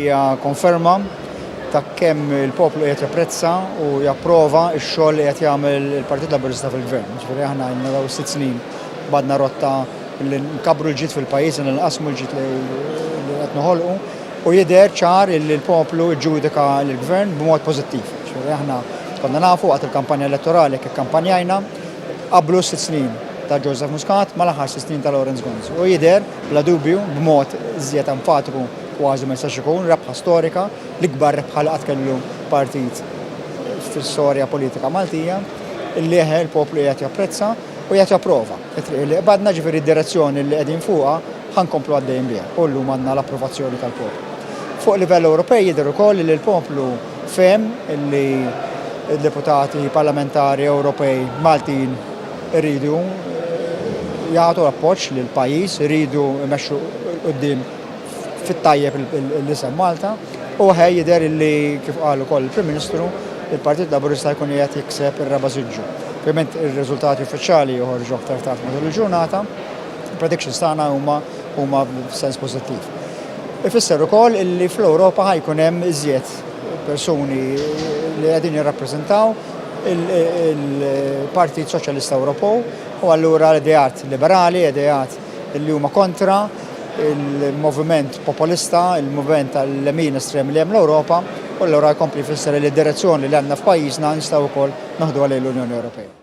Hija konferma ta' kemm il-poplu qed japprezza u japprova x-xogħol li qed jagħmel il-Partit Laburista fil-Gvern. Ġifieri aħna għandna daw sitt snin badna rotta li nkabru l-ġid fil-pajjiż, li nqasmu l-ġid li qed noħolqu u jidher ċar li l-poplu ġġudika l-Gvern b'mod pożittiv. Ġifieri aħna konna nafu waqt il-kampanja elettorali kif kampanjajna qablu sitt snin ta' Joseph Muscat mal-aħħar sitt snin ta' Lawrence Gonz. U jidher Bla dubju, b'mod iżjed enfatiku kważi ma jistax ikun, rebħa storika, l-ikbar rebħa li qatt kellu partit fl-istorja politika Maltija, li eħe l-poplu qiegħed japprezza u qiegħed japprova t-triq li qbadna, ġifieri d-direzzjoni li qegħdin fuqha ħa nkomplu għaddejjin biha u llum għandna l-approvazzjoni tal-poplu. Fuq livell Ewropej jidher ukoll li l-poplu fehem li d-deputati parlamentari Ewropej Maltin, Iridu jagħtu appoġġ lill-pajjiż, iridu jmexxu quddiem fit-tajjeb l-isem Malta u aħjar jidher li kif qal ukoll il-Prim Ministru, il-Partit Laburista jkun qiegħed jikseb ir-raba' siġġu. Ovvjament ir-riżultati uffiċjali joħorġu aktar tard matul il-ġurnata. Il-predictions tagħna huma huma f'sens pożittiv. Ifisser ukoll illi fl-Ewropa ħa jkun hemm iżjed persuni li qegħdin jirrappreżentaw il-Partit Soċjalista Ewropew u allura l-ideat liberali, ideat li huma kontra il-moviment populista, il-moviment tal-lemin estrem li hemm l-Ewropa, u allura jkompli fisser li d-direzzjoni li għandna f'pajjiżna nistgħu wkoll naħduha lejn l-Unjoni Ewropea.